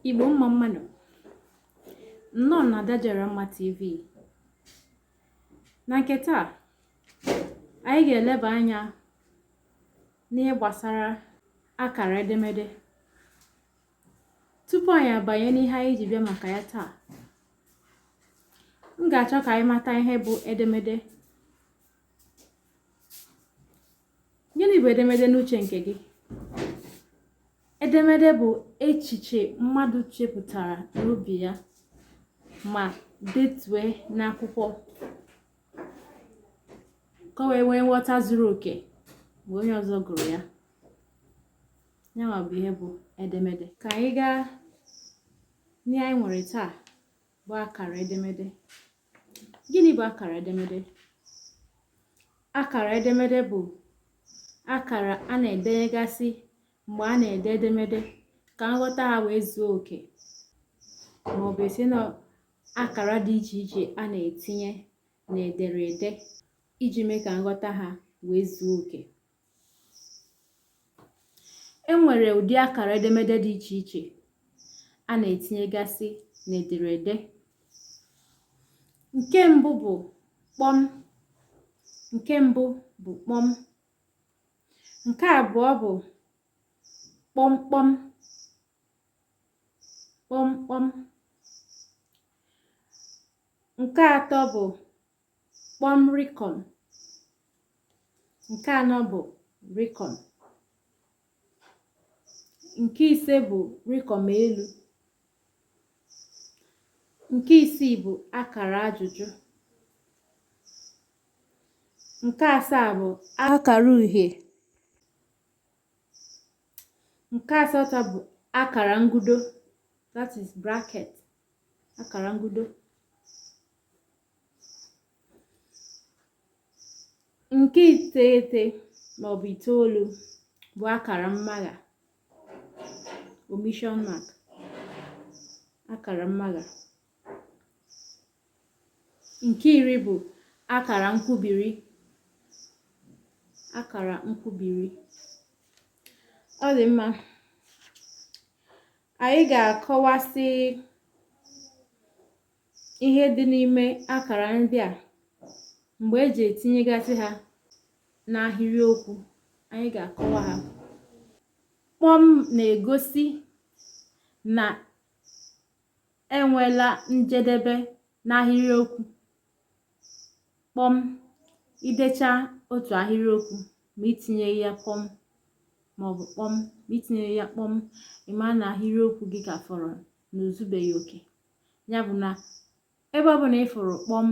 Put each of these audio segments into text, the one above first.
Igbo mma mma nụ nnọọ na Ada Jara Mma TV na nke taa anyị ga-eleba anya n'ihe gbasara akara edemede tupu anyị abanye n'ihe anyị ji bịa maka ya taa m ga-achọ ka anyị mata ihe bụ edemede gịnị bụ edemede n'uche nke gị edemede bụ echiche mmadụ chepụtara n'obi ya ma detue n'akwụkwọ ka o wee nwee nghọta zuru oke mgbe onye ọzọ gụrụ ya ya nwa bụ ihe bụ edemede ka anyị gaa n'ihe anyị nwere taa bụ akara edemede gịnị bụ akara edemede akara edemede bụ akara a na-edenyegasị mgbe a na-ede edemede ka nghọta ha wee zuo oke maọbụ a sị na akara dị iche iche a na-etinye n'ederede iji mee ka nghọta ha wee zuo oke e nwere ụdị akara edemede dị iche iche a na-etinyegasị n'ederede nke mbụ bụ kpọm nke mbụ bụ kpọm nke abụọ bụ kpọmkpọm kpọmkpọm nke atọ bụ kpọm rịkọm nke anọ bụ rịkọm nke ise bụ rịkọm elu nke isii bụ akara ajụjụ nke asaa bụ akara uhie nke asatọ bụ akara ngudo that is bracket akara ngudo Nke iteghete maọbụ itoolu bụ akara mmagha omission mark akara mmagha nke iri bụ akara nkwubiri akara nkwubiri ọ dị mma anyị ga-akọwasị ihe dị n'ime akara ndị a mgbe e ji etinyegasị ha n'ahịrịokwu anyị ga-akọwa ha kpọm na-egosi na enwela njedebe n'ahịrịokwu kpọm i dechaa otu ahịrịokwu ma i tinyeghị ya kpọm maọbụ kpọm ma i tinyeghị ya kpọm ị ma na ahịrịokwu gị ka fọrọ na o zubeghị oke ya bụ na ebe ọ bụla ị fụrụ kpọm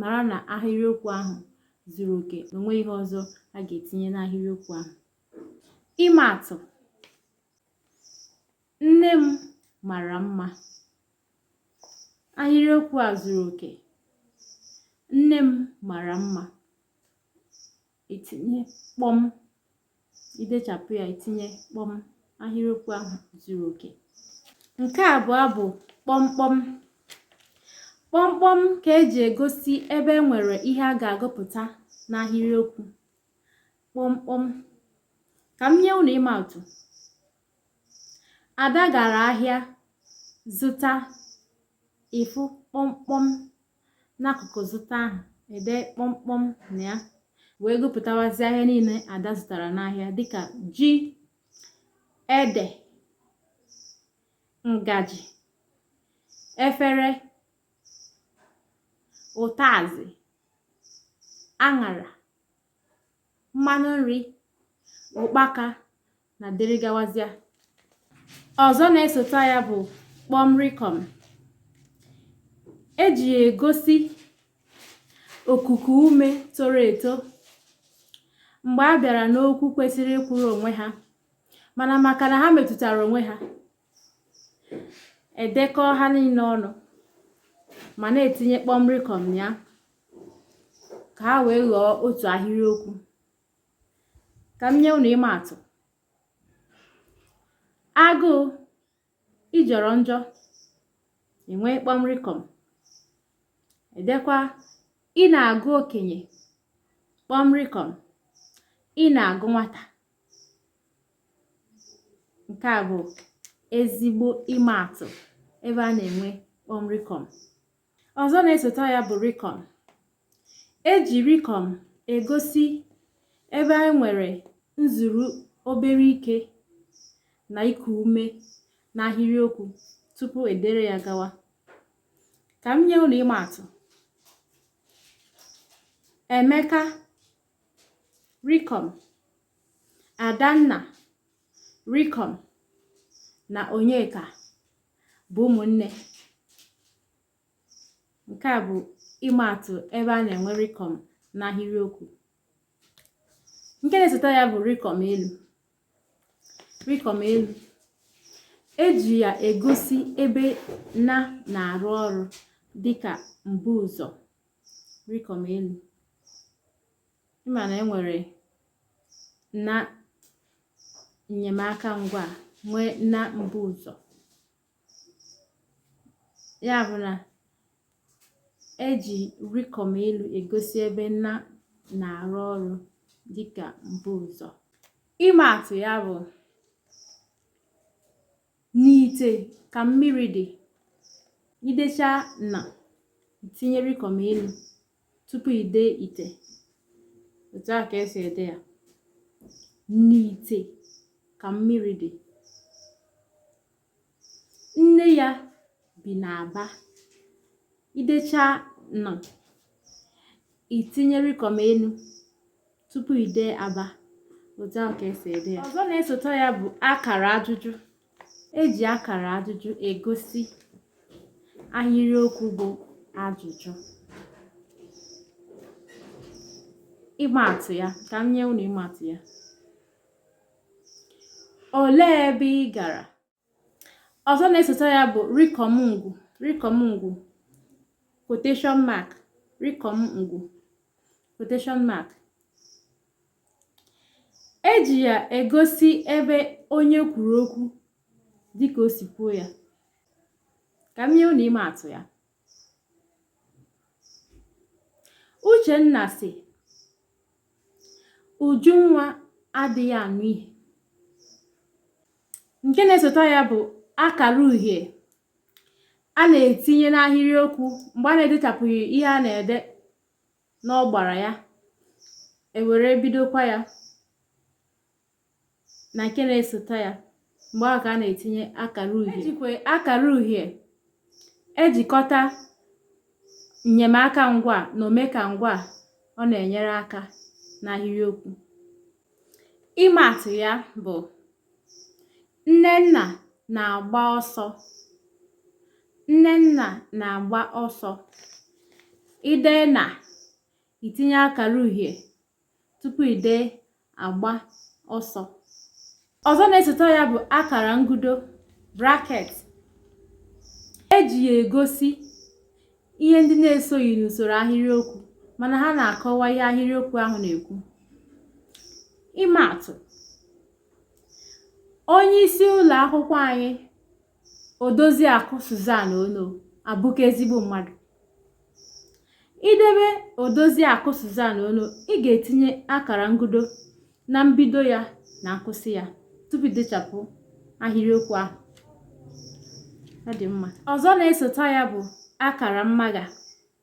mara na ahịrịokwu ahụ zuru oke na o nweghị ihe ọzọ a ga-etinye n'ahịrịokwu ahụ ịma atụ nne m mara mma ahịrịokwu a zuru oke nne m mara mma i tinye kpọm i dechapụ ya i tinye kpọm ahịrịokwu ahụ zuru oke nke abụọ bụ kpọmkpọm kpọmkpọm ka e ji egosi ebe e nwere ihe a ga-agụpụta n'ahịrịokwu kpọmkpọm ka m nye unu ịma atụ ada gara ahịa zụta ị fụ kpọmkpọm n'akụkụ zụta ahụ e dee kpọmkpọm na ya wee gụpụtawazi ahịa niile ada zụtara n'ahịa dịka ji ede ngaji efere ụtazị aṅara mmanụ nri ụkpaka na dịrị gawazịa ọzọ na-esota ya bụ kpọmrịkọm e ji ya egosi okuku ume toro eto mgbe a bịara n'okwu kwesịrị ịkwụrụ onwe ha mana maka na ha metụtara onwe ha e dekọọ ha niile ọnụ ma na-etinye kpọmrịkọm ya ka ha wee ghọọ otu ahịrịokwu ka m nye unu ịma atụ agụụ ị jọrọ njọ e nwee kpọmrịkọm e dekwaa ị na-agụ okenye kpọmrịkọm ị na-agụ nwata nke a bụ ezigbo ịma atụ ebe a na-enwe kpọmrịkọm Ọzọ na-esota ya bụ rikọm. E ji rikọm egosi ebe e nwere nzuru obere ike na iku ume n'ahịrịokwu tupu e dere ya gawa. Ka m nye unu ịma atụ. Emeka, rikọm, Adanna, rikọm, na Onyeka, bụ ụmụnne nke a bụ ịma atụ ebe a na-enwe rikọm n'ahịrịokwu nke na-esote ya bụ rikọm elu rikọm elu eji ya egosi ebe na na-arụ ọrụ dịka mbuụzọ rikọm elu ịma na enwere na nnyemaka ngwa nwee na mbuụzọ ya bụ na eji rikọm elu egosi ebe na na-arụ ọrụ dịka mbuụzọ ịma atụ ya bụ n'ite ka mmiri dị idecha na itinye rikọm elu tupu ide ite otu a ka esi ede ya n'ite ka mmiri dị nne ya bi n'aba idecha na itinye rikọm elu tupu i dee aba otu a ka esi ede ya ọzọ na-esote ya bụ akara ajụjụ eji akara ajụjụ egosi ahịrịokwu bụ ajụjụ ịma atụ ya ka m nye unu ịma atụ ya olee ebe ị gara ọzọ na-esote ya bụ rikọm ngwu rikọm ngwu quotation mark rikọm ngwu quotation mark eji ya egosi ebe onye kwuru okwu dịka o si kwuo ya ka m nye unu ịma atụ ya Uchenna sị Ujunwa adịghị anụ ihe nke na-esote ya bụ akara uhie a na-etinye n'ahịrịokwu mgbe a na-edechapụghị ihe a na-ede n'ọgbara ya ewere bidokwa ya na nke na-esote ya mgbe ahụ ka a na-etinye akara uhie ejikwa akara uhie ejikọta nnyemaka ngwa na omeka ngwa ọ na-enyere aka n'ahịrịokwu ịma atụ ya bụ nnenna na-agba ọsọ nnenna na-agba ọsọ ide na itinye akara uhie tupu ide agba ọsọ ọzọ na-esote ya bụ akara ngudo bracket eji ya egosi ihe ndị na-esoghị n'usoro ahịrịokwu mana ha na-akọwa ihe ahịrịokwu ahụ na-ekwu ịma atụ onye isi ụlọ akwụkwọ anyị Odoziakụ Suzan Ono abụka ezigbo mmadụ idebe Odoziakụ Suzan Ono ị ga-etinye akara ngudo na mbido ya na nkwụsị ya tupu idechapụ ahịrịokwu ahụ ọ dị mma ọzọ na-esota ya bụ akara mmagha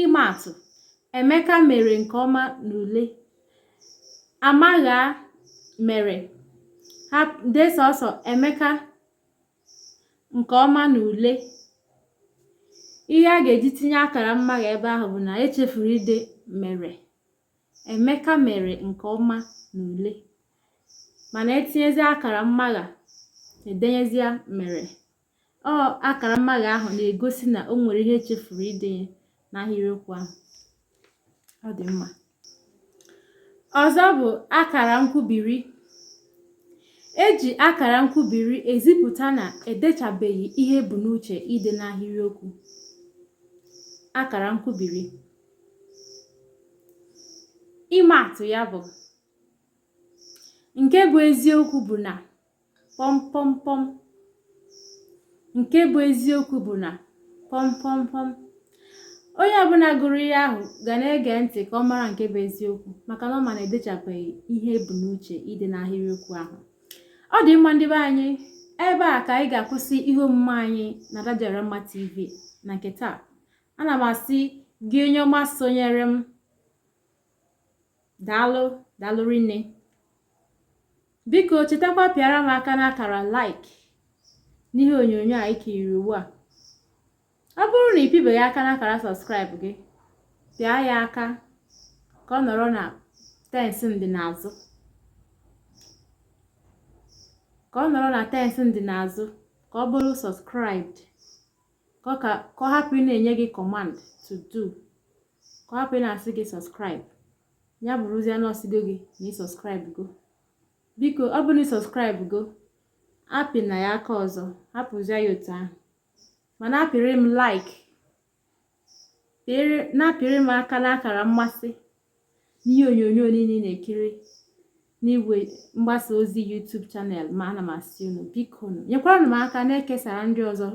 ịmaatụ emeka mere nke ọma n'ule amagha mere ha dee sọsọ emeka nke ọma n'ule ihe a ga-eji tinye akara mmagha ebe ahụ bụ na echefuru ide mere emeka mere nke ọma n'ule mana etinyezie akara mmagha edenyezie mere ọ akara mmagha ahụ na-egosi na o nwere ihe echefuru idenye n'ahịrịokwu ahụ ọ dị mma ọzọ bụ akara nkwubiri eji akara nkwubiri ezipụta na edechabeghị ihe ebu n'uche ide n'ahịrịokwu akara nkwubiri ịma atụ ya bụ nke bụ eziokwu bụ na pọmpọmpọm nke bụ eziokwu bụ na pọmpọmpọm onye ọbụla gụrụ ihe ahụ ga na-ege ntị ka ọ mara nke bụ eziokwu maka na ọ ma na edechabeghị ihe ebu n'uche ide n'ahịrịokwu ahụ ọ dị mma ndị be anyị ebe a ka anyị ga-akwụsị ihe omume anyị n'Ada Dị Ọra Mma TV na nke taa ana m asị gị onye ọma sonyere m daalụ daalụ rinne biko chetakwa pịara m aka n'akara like n'ihe onyonyo a i kiriri ugbu a ọ bụrụ na ị pịbeghị aka n'akara subscribe gị pịa ya aka ka ọ nọrọ na tensị ndị n'azụ ka ọ nọrọ na tensị ndị n'azụ ka ọ bụrụ subscribed ka ọ hapụ ịna-enye gị command to do ka ọ hapụ ịna-asị gị subscribe ya bụrụzie na ọ sịgo gị na ị subscribe go biko ọ bụ na ị subscribe go apịna ya aka ọzọ hapụzie ya otu ahụ ma na-apịrị m like na-apịrị m aka n'akara mmasị n'ihe onyonyo niile ị na-ekiri n'igwe mgbasa ozi YouTube channel m a ana m asị unu biko unu nyekwaranụ m aka na-ekesara ndị ọzọ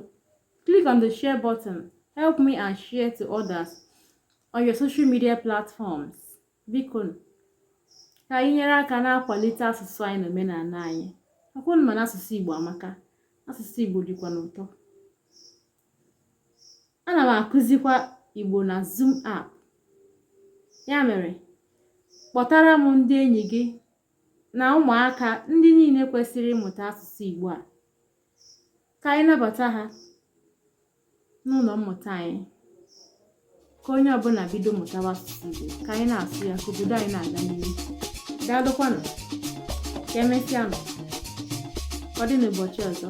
click on the share button help me and share to others on your social media platforms biko ka anyị nyere aka na-akwalite asụsụ anyị na omenala anyị ọkwa unu ma na asụsụ Igbo amaka asụsụ Igbo dịkwanụ ụtọ ana m akụzikwa igbo na zoom app ya mere kpọtara m ndị enyi gị na ụmụaka ndị niile kwesịrị ịmụta asụsụ igbo a ka anyị nabata ha n'ụlọ mmụta anyị ka onye ọbụla bido mụtawa asụsụ igbo ka anyị na-asụ ya ka obodo anyị na-aga n'ihu daalụkwanụ ka emesịanụ ọ dị n'ụbọchị ọzọ